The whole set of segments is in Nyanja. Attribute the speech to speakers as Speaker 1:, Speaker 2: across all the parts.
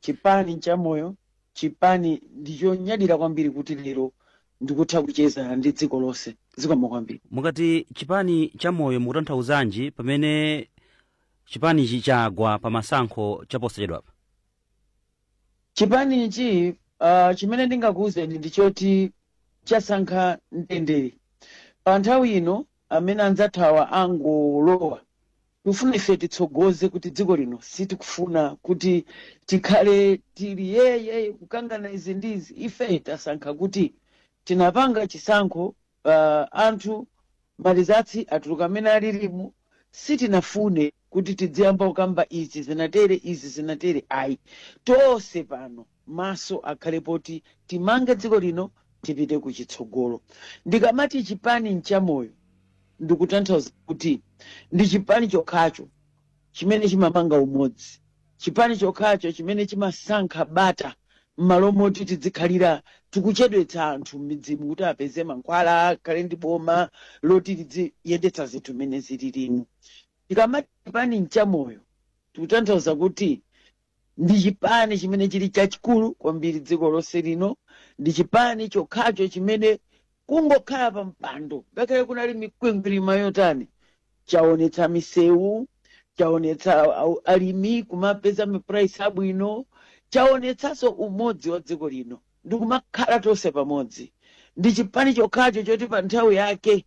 Speaker 1: Chipani n'chamoyo, chipani ndi chonyadira kwambiri kuti lero ndikutha kucheza ndi dziko lonse. Zikomo kwambiri. Mukati chipani
Speaker 2: chamoyo mukutanthauzanji pamene chipanichi chagwa pa masankho chaposachedwapa?
Speaker 1: Chipanichi uh, chimene ndingakuwuzeni ndi choti chasankha mtendere. Pa nthawi ino amene anzathawa angolowa Tikufuna ife titsogoze kuti dziko lino sitikufuna kuti tikhale tili yeye kukangana izi ndi izi. Ife tasankha kuti tinapanga chisankho uh, anthu malizatsi atuluka amene alilimu sitinafune kuti tidziyamba kukamba izi zinatere izi zinatere ayi tonse pano maso akhale poti timange dziko lino tipite ku chitsogolo. Ndikamati chipani nchamoyo ndikutanthauza kuti ndi chipani chokhacho chimene chimamanga umodzi, chipani chokhacho chimene chimasankha bata mmalo moti tidzikhalira tikuchedwetsa anthu mmidzimu kuti apeze mankhwala, akhale ndi boma loti lidziyendetsa zinthu mmene zililimu. Tikamati chipani nchamoyo tikutanthauza kuti Ndi chipani chimene chili chachikulu kwambiri dziko lonse lino. Ndi chipani chokhacho chimene kungokhala pa mpando ngakhale kunali mikwingwirima yotani chaonetsa misewu, chaonetsa au- alimi kumapeza mapuraisi abwino, chaonetsanso umodzi wa dziko lino ndi kumakhala tonse pamodzi. Ndi chipani chokhacho choti pa nthawi yake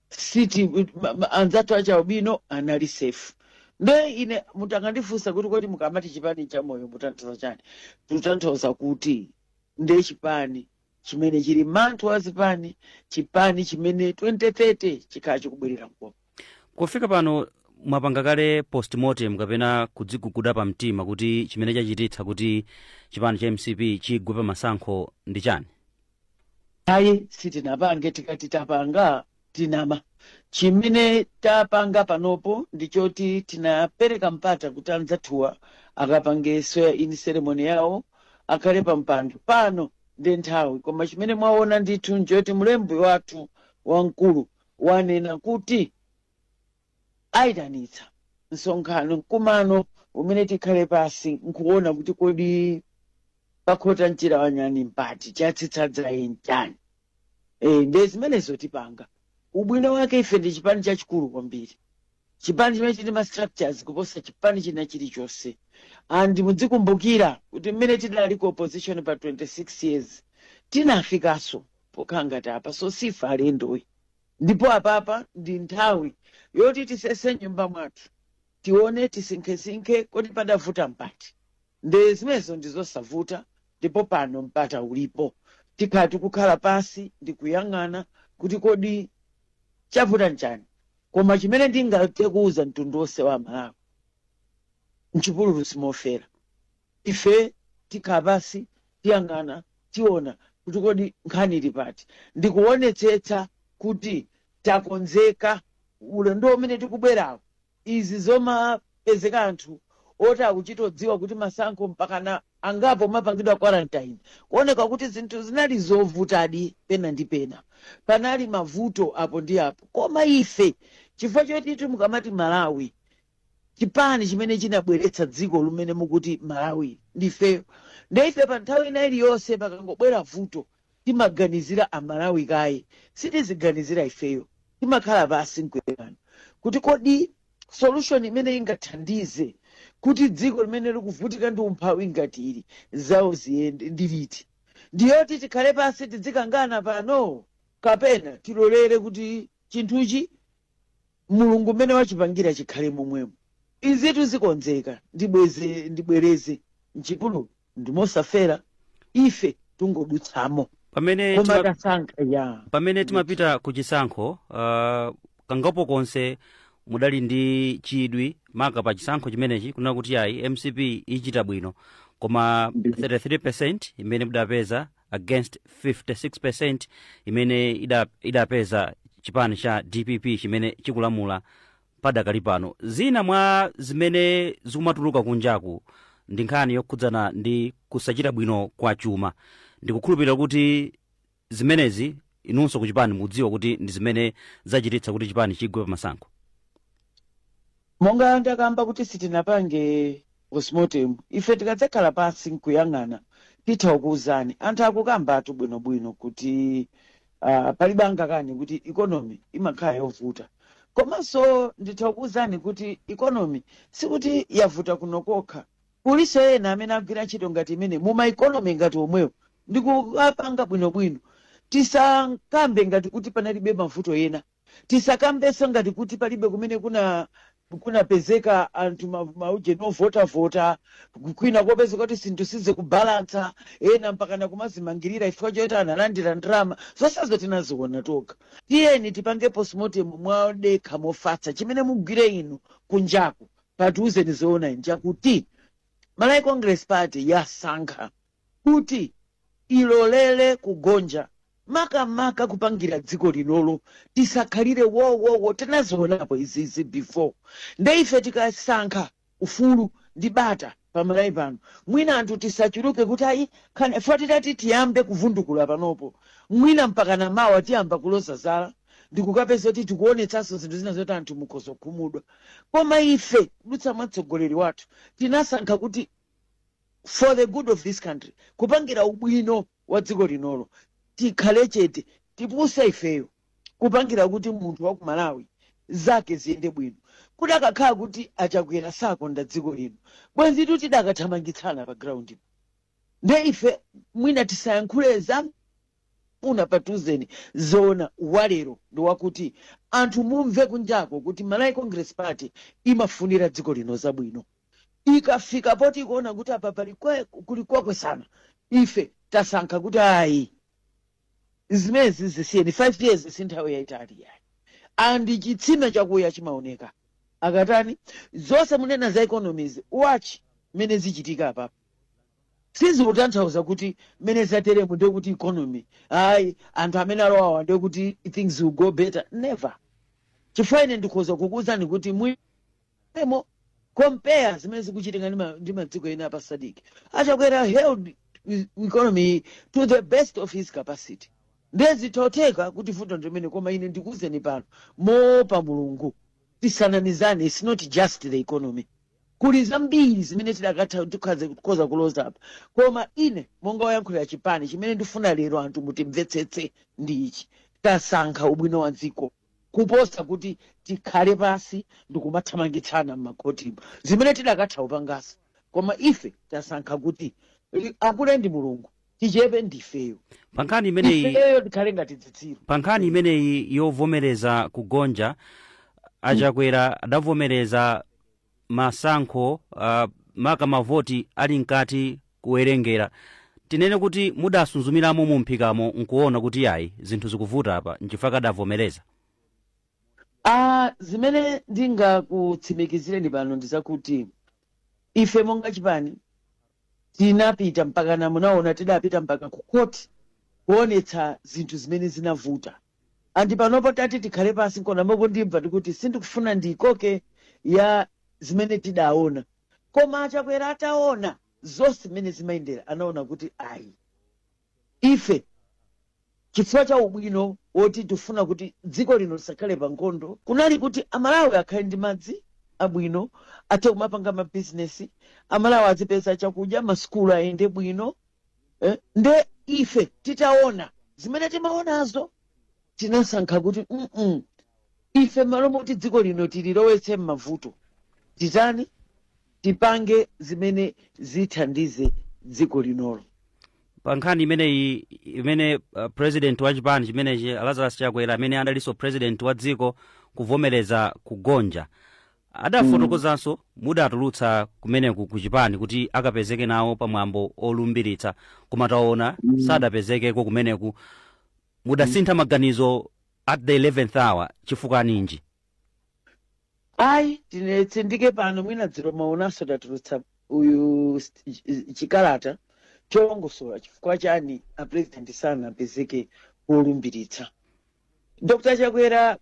Speaker 1: siti ma- ma- anzathu achialubino anali safe nde ine mutangandifunsa kuti kodi mukamati chipani nchamoyo mutanthauza chani tutanthauza kuti ndi chipani chimene chili manthu wa zipani chipani chimene 2030 chikhala chikubwerera m'boma kufika
Speaker 2: pano mwapanga kale postmortem kapena kudziguguda pa mtima kuti chimene chachititsa kuti chipani cha mcp chigwe pa masankho ndi chani
Speaker 1: ayi sitinapange tikati tapanga tinama chimene tapanga panopo ndi choti tinapereka mpata kuti anzathuwa akapange swearing in ceremony yawo akhale pa mpando pano ndi nthawi koma chimene mwaona ndithu nchoti mlembi wathu wamkulu wanena kuti aitanitsa msonkhano, mkumano umene tikhale pansi nkuona kuti kodi pakhota mchira wanyani mpati chatsitsa dzaye nchani e, nde zimenezo tipanga ubwino wake ife ndi chipani chachikulu kwambiri chipani chimene chili ndi ma structures kuposa chipani china chilichonse and mudzikumbukira kuti mmene tidali ku opposition pa 26 years tinafikanso pokhala ngati apa so sife alendoyi Ndipo apapa ndi nthawi yoti tisese m'nyumba mwathu, tione, tisinkhesinkhe, kodi padavuta mpati? Nde zimenezo ndi zosavuta, ndipo pano mpata ulipo. Tikhala tikukhala pansi ndi kuyang'ana kuti kodi chavuta nchani? Koma chimene ndingathe kuuza mtundu wonse wa Amalawi, mchipululu simofera. Ife tikhala pansi, tiyang'ana, tiona kuti kodi nkhani ili pati, ndi kuonetsetsa kuti takonzeka ulendo umene tikubwerawo. Izi zomapezeka anthu oti akuchitodziwa kuti masankho mpakana angapo amapangidwa quarantine, kuoneka kuti zinthu zinali zovutadi pena ndi pena, panali mavuto apo ndi apo. Koma ife chifukwa chotitu mukamati Malawi, chipani chimene chinabweretsa dziko lumene mukuti Malawili ndifeyo nde ife pa nthawi ina iliyonse pakangobwera vuto timaganizira a Malawi kaye sitiziganizira ifeyo timakhala pasi nkuyang'ana kuti kodi solution imene ingathandize kuti dziko limene likuvutika ndi umphawi ngati ili zawo ziyende ndi iti ndiyoti tikhale pasi tidzikangana pano kapena tilolere kuti chinthuchi Mulungu mmene wachipangira chikhale momwemo. Izitu zikonzeka ndibwereze m'chipululu ndi mosafera, ife tungodutsamo.
Speaker 2: Pamene timapita ku chisankho uh, kangapo konse mudali ndi chidwi maka pa chisankho chimenechi kunena kuti ayi mcp ichita bwino koma 33% imene mudapeza against 56% imene idapeza chipani cha dpp chimene chikulamula padakali pano zina mwa zimene zikumatuluka kunjaku ndi nkhani yokhudzana ndi kusachita bwino kwa chuma ndikukhulupirira kuti zimenezi inunso kuchipani mudziwa kuti ndi zimene zachititsa kuti chipani chigwe pamasankho
Speaker 1: monga ndakamba
Speaker 2: kuti
Speaker 1: sitinapange postmortem ife tikadzakhala pansi nkuyang'ana titha kukuwuzani anthu akukambatu bwinobwino kuti uh, palibe angakane kuti economy imakhala yovuta komanso nditha kukuwuzani kuti economy sikuti yavuta kuno kokha kulinso ena amene agwira ntchito ngati imene muma economy ngati omwewo ndikuwapanga bwinobwino tisakambe ngati kuti panalibe mavuto ena Tisakambenso ngati kuti palibe kumene kunapezeka anthu ma ujeni ovotavota kwina kopezeka kuti zinthu sizikubalantsa ena mpakana kumazimangirira chifukwa choti analandira ndalama zonsezo tinaziona tokha tiyeni tipange postmortem modekha mofatsa chimene mugwire inu kunjaku mukatiuze ndi zoona nchakuti malawi congress party yasankha kuti ilolele kugonja makamaka kupangira dziko linolo tisakhalire wowowo tinazionapo izizi before nde ife tikasankha ufulu ndi bata pamalawi pano mwina anthu tisachuluke kuti ayi nkhani ife titati tiyambe kuvundukula panopo mwina mpakana mawa tiyamba kuloza zala ndikukapeza kuti tikuonetsanso zinthu zina zoti anthu mukhoza kukhumudwa koma ife kudutsa mwa mtsogoleri wathu tinasankha kuti for the good of this country kupangira ubwino wa dziko linolo tikhale chete tipuse ifeyo kupangira kuti munthu wa ku malawi zake ziyende bwino kuti akakhala kuti achakwera sakonda dziko lino bwenzitu tidakathamangitsana pa ground nde ife mwina tisayankhule zapatsuzani zoona zalero ndi wakuti anthu mumve kunjako kuti malawi congress party imafunira dziko lino zabwino Ikafika poti ikuona kuti apa pali kwe, kuli kokwesana, ife tasankha kuti ayi zimenezi zisiyeni. 5 years si nthawi yayitali yayi, and chitsime chakuya chimaoneka chikatani. Zonse munena za economies, watch mmene zichitika apapa. Sizikutanthauza kuti mmene zateremu ndiye kuti economy ayi anthu amene alowawa ndiye kuti things will go better, never. Chifukwa ine ndikhoza kukuwuzani kuti mwi Emo, compare zimene zikuchitika ndi madziko ena apa SADC achakwera held economy to the best of his capacity ndiye zitotheka kuti vuto ndimene koma ine ndikuwuzeni pano moopa mulungu tisanamizane its not just the economy kuli zambiri zimene tidakatha tikhoza kuloza apa koma ine monga woyankhulira chipani chimene ndifuna lero anthu mutimvetsetse ndi ichi tasankha ubwino wa dziko kuposa kuti tikhale pansi ndikumathamangitsana m'makhotimu zimene tidakatha kupangazi koma ife tasankha kuti akule ndi mulungu tichepe ndifeyo pa nkhani
Speaker 2: imeneyi ifeyo tikhale
Speaker 1: ngati dzitsiru pa nkhani
Speaker 2: imeneyi yovomereza kugonja achakwera adavomereza masankho uh, maka mavoti ali mkati kuwerengera tinene kuti mudasunzumiramo mu mphikamo nkuona kuti yayi zinthu zikuvuta apa nchifukwa adavomereza Ah,
Speaker 1: zimene ndingakutsimikizireni pano ndi zakuti ife monga chipani tinapita mpaka na munaona tidapita mpaka ku court kuonetsa zinthu zimene zinavuta Ndipo panopo tati tikhale pansi nkona mukundimva ndikuti sindikufuna ndiikoke ya zimene tidaona koma achakwera ataona zonse zimene zimayendera anaona kuti ayi ife chifukwa cha ubwino woti tifuna kuti dziko lino lisakhale pa nkhondo kunali kuti amalawi akhale ndi madzi abwino athe kumapanga mabizinesi amalawi azipeza chakudya masukulu ayende bwino eh, nde ife titaona zimene timaonazo tinasankha kuti mm -mm. ife malo moti dziko lino tililowetse m'mavuto titani tipange zimene zithandize dziko linolo pa
Speaker 2: nkhani imeneyi amene uh, president wa chipani chimenechi lazarus chakwera amene adalinso president wa dziko kuvomereza kugonja adafotokozanso mudatulutsa kumeneku ku chipani kuti akapezeke nawo pa mwambo olumbiritsa koma taona sadapezekeko kumeneku mudasintha maganizo at the 11th hour chifukwa
Speaker 1: ninji ayi tinetsindike pano mwina dzulo mwaonanso tatulutsa uyu st- ch- chikalata cholongosola chifukwa chani apresident sanapezeke wolumbiritsa Dr Chakwera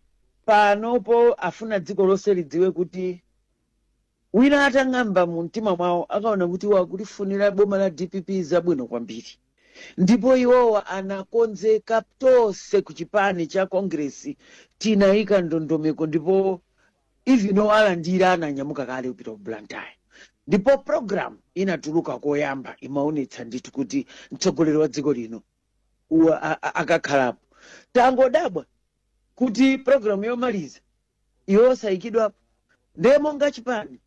Speaker 1: panopo ndifuna dziko lonse lidziwe kuti wina atang'amba mu mtima mwawo akaona kuti iwo akulifunira boma la dpp zabwino kwambiri ndipo iwowa anakonzeka tonse ku chipani cha kongresi tinayika ndondomeko ndipo even owalandira anaanyamuka kale kupita ku blantyre ndipo program inatuluka koyamba imaonetsa ndithu kuti mtsogoleri wa dziko lino wa- a- a- akakhalapo tangodabwa kuti programu yomaliza iyo osayikidwapo ndiye monga chipani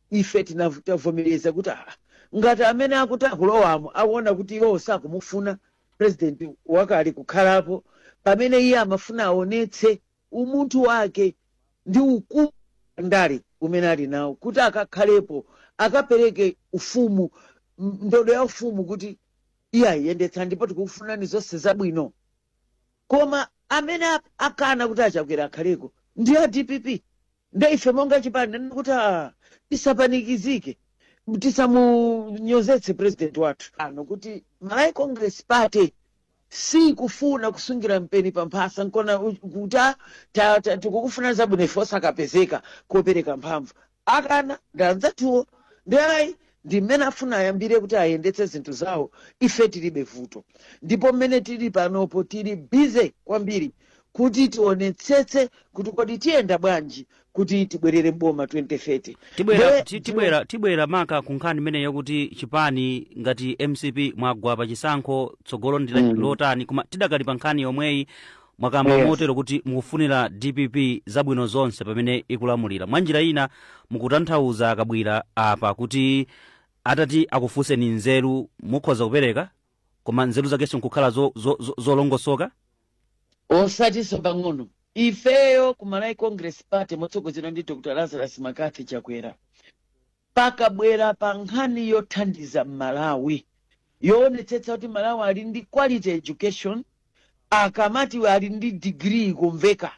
Speaker 1: ife tinav- tavomereza kuti ah, ngati amene akuti akulowamo akuona kuti iwo sakumufuna president wakale kukhalapo pamene iye amafuna aonetse umunthu wake ndi ukulu pandale umene ali nawo kuti akakhalepo akapereke ufumu m- ndodo ya ufumu kuti iyayi yendetsani ndipo tikukufunirani zonse zabwino koma amene a- akana kuti achakwera akhaleko ndi a dpp nde ife monga chipani nanena kuti "Ah, tisapanikizike tisamunyozetse president wathu aone kuti malawi congress party sikufuna kusungira mpeni pamphasa nkona u- kuti "Ah, ta- ta- tikukufunirani zabwino ife osakapezeka kopereka mphamvu akana ndi anzathuwo nde ayi ndi mmene afuna ayambire kuti ayendetse zinthu zawo ife tilibe vuto ndipo mmene tili panopo tili bize kwambiri kuti tionetsetse kuti kodi tiyenda bwanji kuti tibwerere mboma 2030 tibwera Nde- ti- tibwera tibwera
Speaker 2: maka ku nkhani imeneyi yakuti chipani ngati mcp mwagwa pa chisankho tsogolo ndi la- Mm. lotani koma tidakali pa nkhani yomweyi mwakamba motero kuti mukufunira dpp zabwino zonse pamene ikulamulira mwa njira ina mukutanthauza akabwira apa kuti atati akufunseni nzeru mukhoza kupereka koma nzeru zakenso nkukhala zolongosoka
Speaker 1: osatinso pang'ono ifeyo ku malawi congress party motsogozedwa ndi dr lazarus mccarthy chakwera pakabwera pa nkhani yothandiza Mmalawi, yoonetsetsa kuti Mmalawi ali ndi quality education, akamati ali ndi degree ikumveka,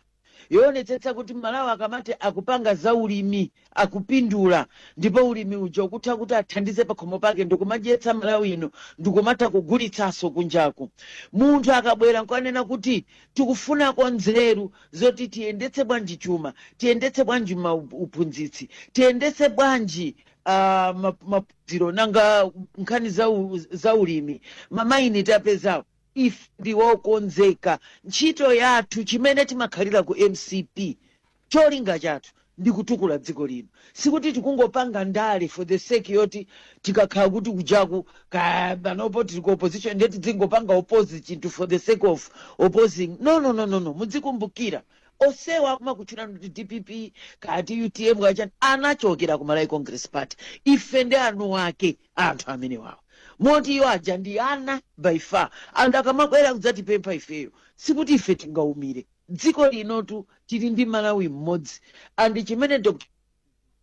Speaker 1: yoonetsetsa kuti Mmalawi akamati akupanga za ulimi akupindula ndipo ulimi uja ukutha kuti athandize pakhomo pake ndikumadyetsa Malawi ino ndikumatha kugulitsanso kunjaku. Munthu akabwera nkukanena kuti tikufunako nzeru zoti tiyendetse bwanji chuma tiyendetse bwanji uphunzitsi tiyendetse bwanji ah, ma- maphunziro nanga nkhani za u- za ulimi mamaini tapezawo ife ndiwokonzeka ntchito yathu chimene timakhalira ku mcp cholinga chathu ndi kutukula dziko lino. Sikuti tikungopanga ndale for the sake yoti tikakhala kuti kujaku kaya panopo tili ku opposition ndiye tidzingopanga oppose chinthu for the sake of opposing. No, no, no, no, no. Mudzikumbukira onsewa akumakutchula kuti dpp kaya ti utm kaya chani anachokera ku malawi congress party ife ndi makolo ake a anthu amenewawo moti iwo aja ndi ana by far and akamabwera kudzatipempha ifeyo sikuti ife tingaumire Dziko linotu tili ndi Malawi mmodzi and chimene Dr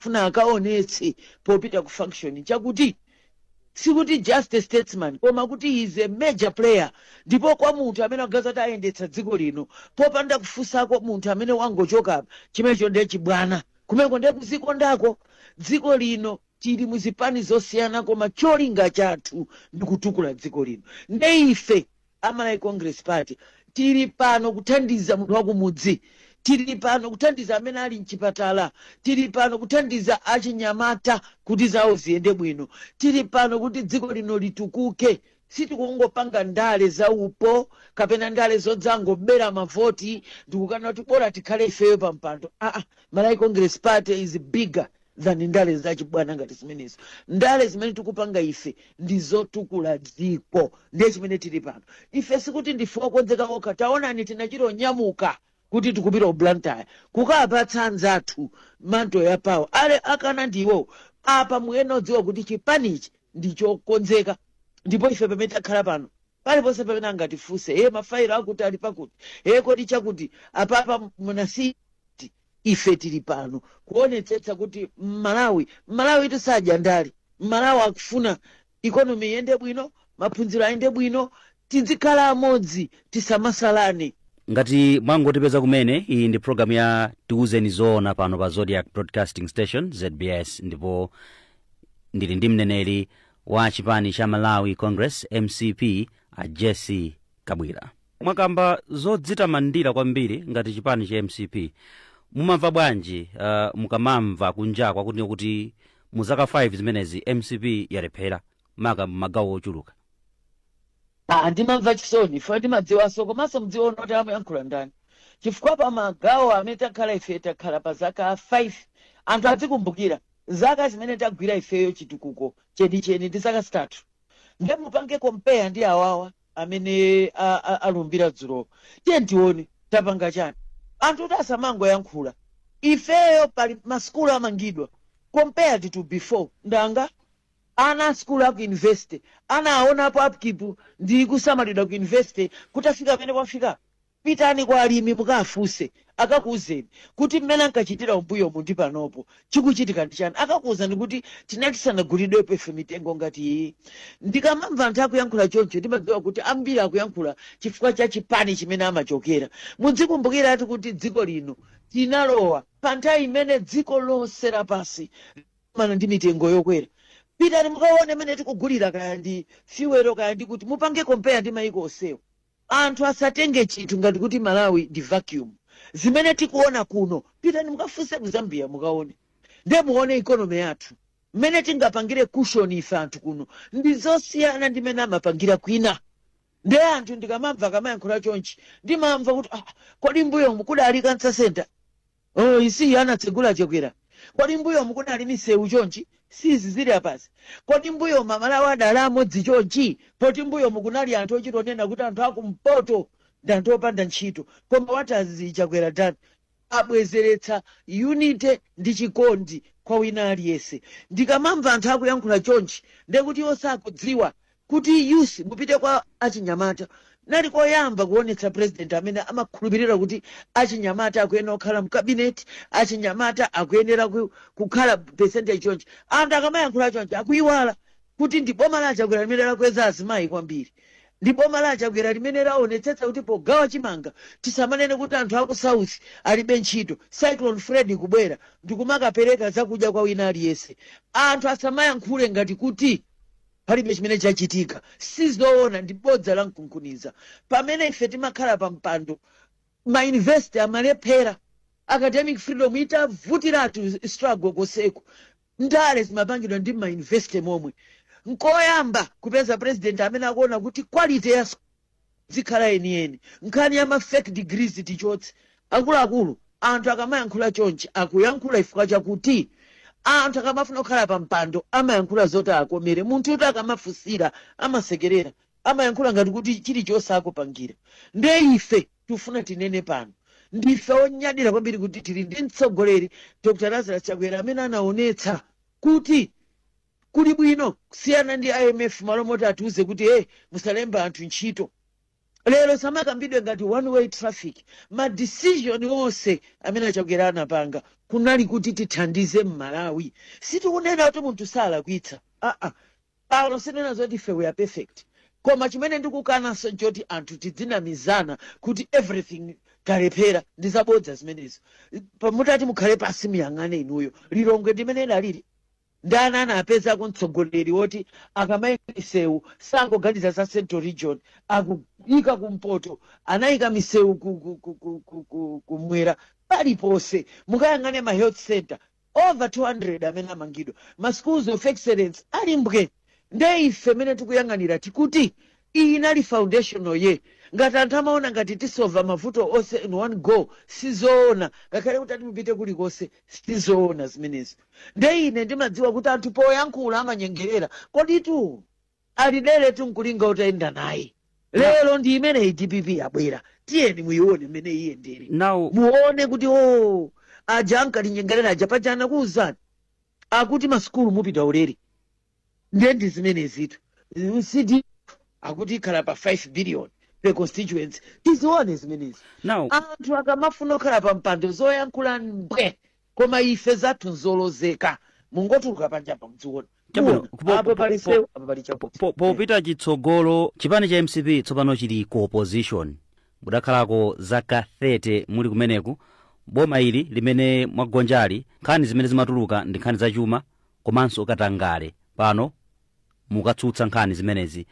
Speaker 1: akufuna akaonetse popita ku function nchakuti sikuti just a statesman koma kuti he is a major player ndipo kwa munthu amene angadzati ayendetsa dziko lino popanda kufunsako munthu amene wangochoka apa chimenecho ndiye chibwana kumeneko ndiye kuzikondako dziko lino tili muzipani zosiyana koma cholinga chathu ndikutukula dziko lino nde ife A Malawi Congress Party tili pano kuthandiza munthu wakumudzi, tili pano kuthandiza amene ali mchipatala, tili pano kuthandiza achinyamata kuti zawo ziyende bwino, tili pano kuti dziko lino litukuke. Sitikungopanga ndale za upo kapena ndale zodzangobera mavoti ndikukanena kuti bola tikhale ifeyo pampando aa. Malawi Congress Party is bigger. than ndale zachibwana ngati zimenezo ndale zimene tikupanga ife ndi zotukula dziko ndiye chimene tili pano ife sikuti ndife okonzeka okha taonani tinachita kunyamuka kuti tikupita ku blantyre kukapatsa anzathu mantle ya power ale akana ndi iwowo apa muyenera kudziwa kuti chipanichi ndi chokonzeka ndipo ife pamene takhala pano paliponse pamene angatifunse e mafayilo akuti ali pakuti e kodi chakuti apapa munasi Ife tili pano kuonetsetsa kuti Mmalawi, Mmalawi sitidya ndale, Mmalawi akufuna economy iyende bwino, maphunziro ayende bwino, tidzikhala amodzi tisamasalane. Ngati
Speaker 2: mwangotipeza kumene, iyi ndi program ya Tiuzeni Zoona pano pa Zodiak Broadcasting Station, zbs, ndipo ndili ndi mneneri wa chipani cha Malawi Congress, mcp, a Jessie Kabwila, mwakamba zodzitamandira kwambiri ngati chipani cha mcp mumamva bwanji uh, mukamamva kunja kwakuti kuti mu zaka 5 zimenezi mcp yalephera maka mmagawo ochuluka Ah,
Speaker 1: ndimamva chisoni ndimadziwanso komanso ndiziona kuti amayankhula ndani chifukwa pa magawo amene takhala ife takhala pa zaka 5 anthu adzikumbukira zaka zimene tagwira ifeyo chitukuko chenicheni ndi zaka zitatu nde mupange kompeya ndi awawa amene a- a- alumbira dzulo tiye tione tapanga chani anthu kuti asamangoyankhula ifeyo pali masukulu amangidwa compared to before ndanga ana asukulu aku university ana aonapo upkeep ndi kusamalidwa ku university kutafika pamene kwafika Pitani kwa alimi mukafunse akakuuzeni kuti mmene ankachitira mmbuyomu ndi panopo chikuchitika ndi chani. Akakuuzani kuti tinali tisanaguliridwepo ife mitengo ngati iyi. Ndikamamva anthu akuyankhula choncho ndimadziwa kuti ambiri akuyankhula chifukwa cha chipani chimene amachokera. Mudzikumbukiratu kuti dziko lino tinalowa pa nthawi imene dziko lonse lapansi likukumana ndi mitengo yokwera. Pitani mukaone mmene tikugulira kaya ndi fuel kaya ndi kuti mupange compare ndi maiko onsewo. Anthu asatenge chinthu ngati kuti Malawi ndi vacuum. Zimene tikuona kuno, pitani mukafunse ku Zambia mukaone. Nde muone economy yathu mmene tingapangire cushion ife anthu kuno ndi zosiyana ndi mmene amapangira kwina. Nde anthu ndikamamva akamayankhula chonchi ndimamva kuti ah, kodi mmbuyomu kudali cancer centre? Siiyo anatsegula a Chakwera kodi mmbuyomu kunali misewu chonchi siizi zili apazi kodi mmbuyomu Amalawi adali amodzi chonchi poti mmbuyomu kunali anthu ochita kunena kuti anthu akumpoto ndi anthu opanda ntchito koma what has Chakwera done abwezeretsa unity ndi chikondi kwa wina aliyense ndikamamva anthu akuyankhula chonchi ndekuti iwo sakudziwa Kuti youth mupite kwa achinyamata kunali koyamba kuonetsa president amene amakhulupilira kuti achinyamata akuyenera kukhala mu cabinet, achinyamata akuyenera kukhala percentage chonchi. Anthu akamayankhula chonchi akuiwala kuti ndi boma la a Chakwera limene lakweza azimayi kwambiri. Ndi boma la a Chakwera limene laonetsetsa kuti pogawa chimanga tisamanene kuti anthu aku south alibe ntchito cyclone Freddy kubwera ndikumakapereka zakudya kwa wina aliyense. Anthu asamayankhule ngati kuti. Palibe chimene chachitika. Si zoona, ndi bodza la mkunkhuniza. Pamene ife timakhala pa mpando, ma university amalephera. Academic freedom itavutiratu struggle konseku, ndale zimapangidwa ndi mma university momwe. Nkoyamba kupeza president amene akuona kuti quality ya. Idzikhala yeniyeni. Nkhani ya ma fake degrees tichotse. Akuluakulu, anthu akamayankhula chonchi akuyankhula chifukwa chakuti anthu akamafuna kukhala pa mpando amayankhula zoti akomere. Munthutu akamafunsira amasekerera, amayankhula ngati kuti chilichonse akupangira. Nde ife tikufuna tinene pano, ndife onyadira kwambiri kuti tili ndi mtsogoleri Dr Lazarus Chakwera amene anaonetsa kuti. Kuli bwino kusiyana ndi imf malo moti atiuze kuti musalemba anthu ntchito lero zamakambidwe ngati one way traffic ma decision onse amene a chakwera anapanga kunali kuti tithandize mmalawi sitikunena kuti munthu salakwitsa aa pano sinena zoti ife we are perfect koma chimene ndikukananso nchoti anthu tidzinamizana kuti everything talephera ndi zabodza zimenezo Pa- mutati mukhale pansi muyang'ane inuyo lilongwe ndi mmene idalili Ndani anapezako mtsogoleri woti akamayika misewu sangoganiza za central region akuyika ku mpoto anayika misewu ku mwera paliponse mukayang'ane ma health center over 200 amene amangidwa ma schools of excellence ali mbwe Nde ife mmene tikuyang'anira tikuti iyi inali foundational year. Ngati anthu amaona ngati tisolver mavuto onse in one go sizoona ngakhale mutati mupite kulikonse sizoona zimenezo. Nde ine ndimadziwa kuti anthu poyankhula amanyengerera koditu ali deretu nkulinga utayenda naye. Lero ndi imeneyi dpp yabwera tiyeni muyione mmene iyendere muone kuti oh aja ankatinyengerera aja paja anakuuzani. akuti masukulu mupita ulere nde ndi zimenezitu cdf akuti ikhala pa 5 billion per constituency tizione zimenezi anthu akamafuna kukhala pa mpando zoyankhula mbwe koma ife zathu nzolozeka mungotuluka panjapa muziona
Speaker 2: popita chitsogolo chipani cha mcp tsopano chili ku opposition mudakhalako zaka 30 muli kumeneku boma ili limene mwagonjali nkhani zimene zimatuluka ndi nkhani zachuma komanso katangale pano mukatsutsa nkhani zimenezi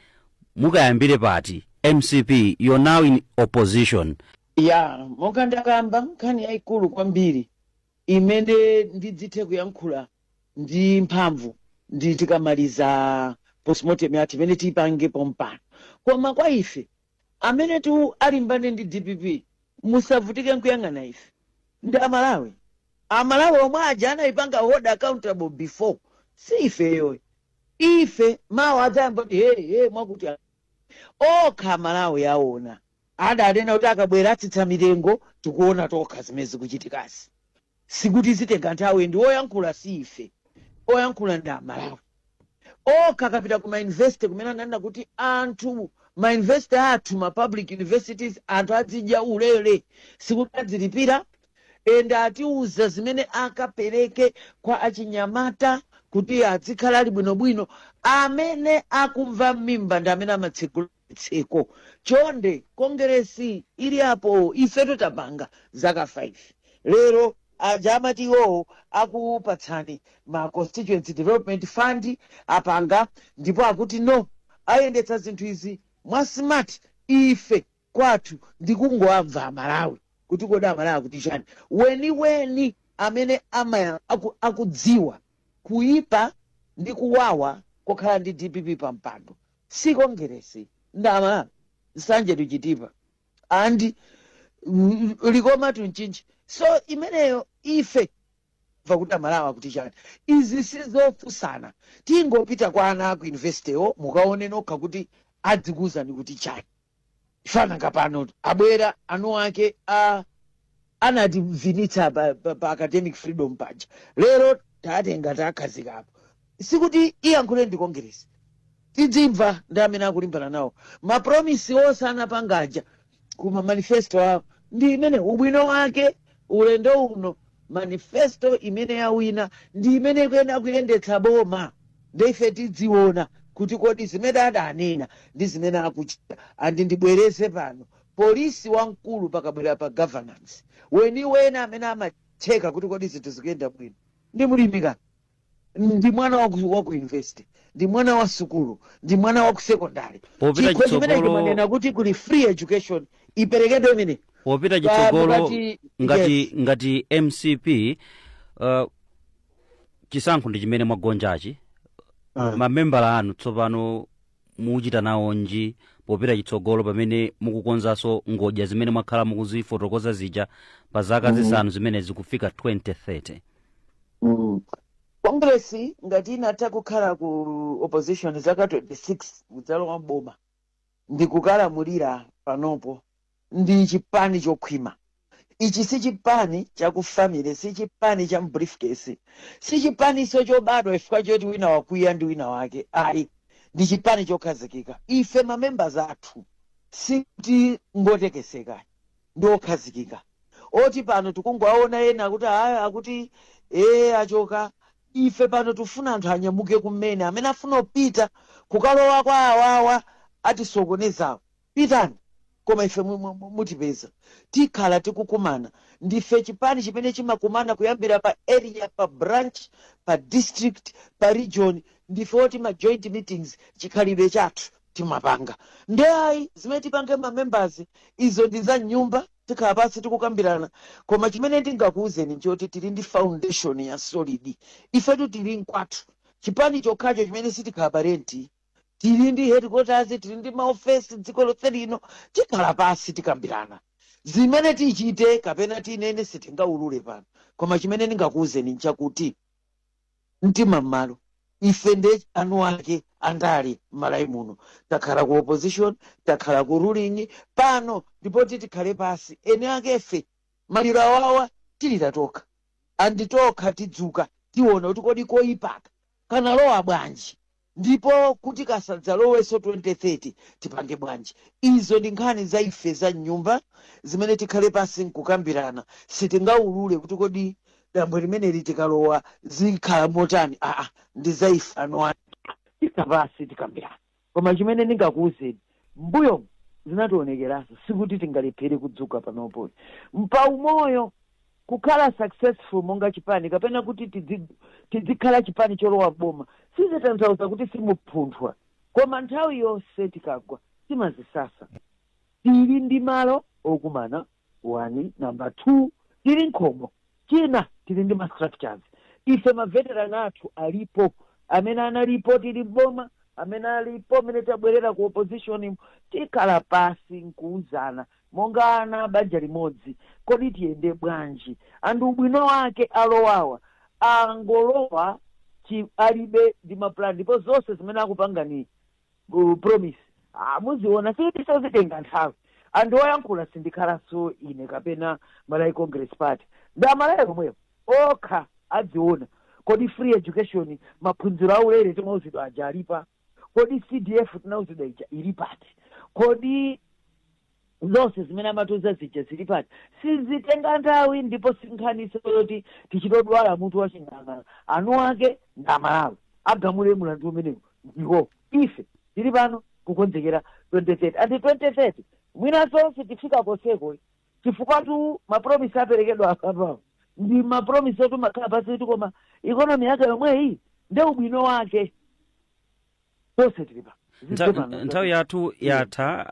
Speaker 2: mukayambire pati mcp you're now in opposition ya
Speaker 1: monga ndakamba nkhani yayikulu kwambiri imene ndidzithe kuyankhula ndi mphamvu ndi tikamaliza postmortem yathu imene tiyipange pompano koma kwa ife Amenetu alimbane ndi dpp musavutike nkuyang'ana ife ndi amalawi. Amalawi omwe aja anaipanga hold accountable before si ifeyoyi. Ife mawa adzayamba kuti hey hey mwakuti okha amalawi aona adanena kuti akabwera atsitsa mitengo tikuona tokha zimene zikuchitikazi. Sikuti zitenga nthawi and oyankhula si ife, oyankhula ndi a Malawi okha. Akapita ku ma university kumene ananena kuti anthu ma university athu ma public universities anthu adzidya ulele sikuti adzilipira and atiuza zimene akapereke kwa achinyamata kuti adzikhala ali bwinobwino. Amene akumva mmimba ndi amene amatsegula. tseko chonde kongeresi ili apo ifetu tapanga zaka 5 lero aja amati iwowo akupatsani ma constituency development fund apanga ndipo akuti no ayendetsa zinthu izi mwa smart ife kwathu ndikungowamva amalawi kuti kodi amalawi akuti chani weniweni amene amaya, aku, akudziwa kuipa ndi kuwawa kokhala ndi dpp pa mpando si kongeresi ndi amalawi nsanje to chitipa and mm, likoma to mchinji so imeneyo ife va kuti amalawi akuti chani izi sizofunsana tingopita kwa ana aku universitywo mukaone nokha kuti adzikuwuzani kuti chani fananga pano abwera anu ake a anativinitsa pa, pa, pa academic freedom paja lero tatenga takhazikapo sikuti iyankhule ndi kongeresi tidzimva ndi amene akulimbana nawo mapromisi onse anapanga aja kuma manifesto awo ndi imene ubwino wake ulendo uno manifesto imene yawina ndi imene ikuyenera kuyendetsa boma nde ife tidziona kuti kodi zimene adanena ndi zimene akuchita andi ndibwereze pano polisi wamkulu pakabwera pa governance weniweni amene amacheka kuti kodi zinthu zikuyenda bwino ndi mlimika ndi mwana wa ku- wa ku university ndi mwana wa sukulu ndi mwana wa ku secondary Popita chikho chimene chitsogolo- chimanena kuti kuli free education iperekedwe imene popita Ah, chitsogolo
Speaker 2: mukati- ngati yes. ngati mcp uh, chisankho ndi chimene mwagonjachi Ah. mamembala anu tsopano muchita nawonji popita chitsogolo pamene mukukonzanso ngodya zimene mwakhala mukuzifotokoza zija pa zaka Mhm. zisanu zimene zikufika 2030
Speaker 1: Mm. kongresi ngati inatha kukhala ku opposition zaka 26 kudzalowa mboma ndikukalamulira panopo ndi chipani chokhwima. Ichi si chipani cha ku family, si chipani cha m'briefcase, si chipaninso chobadwa chifukwa choti wina wakwiya ndi wina wake ayi. Ndi chipani chokhazikika. Ife ma members athu sikuti ngotekeseka ayi, ndi okhazikika oti pano tikungowaona ena akuti aa akuti ee achoka. Ife pano tikufuna anthu anyamuke kumene, amene afuna kupita kukalowa kwa awawa atisokonezawo. Pitani, koma ife mutipeza. Tikhala tikukumana. Ndife chipani chimene chimakumana kuyambira pa area, pa branch, pa district, pa region. Ndife oti ma joint meetings chikhalidwe chathu timapanga. Nde ayi zimene tipange ma members izo ndi za m'nyumba tikhala pansi n'kukambirana koma chimene ndingakuwuzeni nchoti tili ndi foundation ya solid ifetu tili nkwathu chipani chokhacho chimene sitikhala pa renti tili ndi headquarters tili ndi maofesi dziko lonse lino tikhala pansi tikambirana zimene tichite kapena tinene sitingaulule pano koma chimene ndingakuwuzeni nchakuti mtima m'malo ife nde eni ake andale m'malawi muno takhala ku opposition takhala ku ruling pano ndi poti tikhale pasi eni akefe maliro awawa tilira tokha andi tokha tidzuka tiona kuti kodi koyipaka kanalowa bwanji Ndipo kuti kasadzalowenso 2030, tipange bwanji? Izo ndi nkhani za ife za m'nyumba zimene tikhale pansi n'kukambirana. Sitingaulule kuti kodi dambwe limeneli tikalowa zikhala motani, aa, ndi za ife eni. Tikha pansi tikambirana. Koma chimene ndingakuuzeni M'mbuyomu zinatiwonekeranso sikuti tingalephere kudzuka panopo mpaumoyo kukhala successful monga chipani kapena kuti tidzikhala chipani cholowa boma sizitanthauza kuti simuphunthwa koma nthawi yonse tikagwa timazisasa tili ndi malo okumana wani namba two tili nkhomo china tili ndi ma structures ife maveteran athu alipo amene analipo tili m'boma amene alipo m'mene tabwerera ku opposition tikhala pasi nkuuzana monga ana banja limodzi kodi tiyende bwanji and ubwino wake alowawa angolowa alibe ndi maplan ndipo zonse zimene akupanga ni promise ah, muziona sikutinso zitenga nthawi and oyankhula sitikhalanso ine kapena malawi congress party ndi amalawi omwewo okha adziona kodi free education maphunziro aulere timauzidwa aja ali pati kodi cdf tinauzidwa ija ili pati kodi Zonse zimene amatiuza zija zili patali sizitenga nthawi ndipo si nkhaninso yoti tichite odwala mutu wa ching'alang'ala. Eni ake ndi Amalawi. Agamule mlandu umenewu ndiwo. Ife tili pano kukonzekera 2030. And 2030 mwinanso sitifika konseko chifukwatu mapromise aperekedwa apapawa ndi mapromise oti umakhala pansi kuti koma economy yake yomweyi nde ubwino wake. tonse tili pa zidze Ntha- pano nthawi
Speaker 2: yathu yatha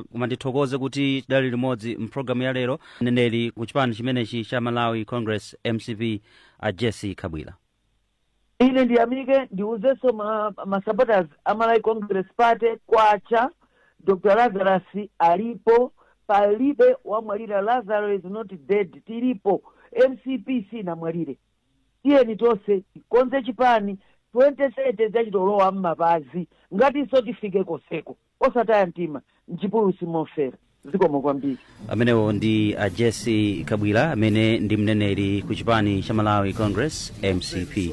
Speaker 2: uh, koma ndithokoze kuti tidali limodzi mpulogalamu ya lero mneneri ku chipani chimenechi cha malawi congress mcp a jessie kabwila ine
Speaker 1: ndiyamike ndiuzenso ma, ma supporters a malawi congress party kwacha dr lazarus alipo palibe wamwalira lazarus is not dead tilipo mcp sinamwalire Tiyeni tonse tikonze chipani 2030 idzachita kulowa mmapazi ngatinso tifike koseko. Osataya mtima, mchipululu simofera. Zikomo kwambiri. amenewo
Speaker 2: ndi a jessie kabwila amene ndi mneneri ku chipani cha malawi congress mcp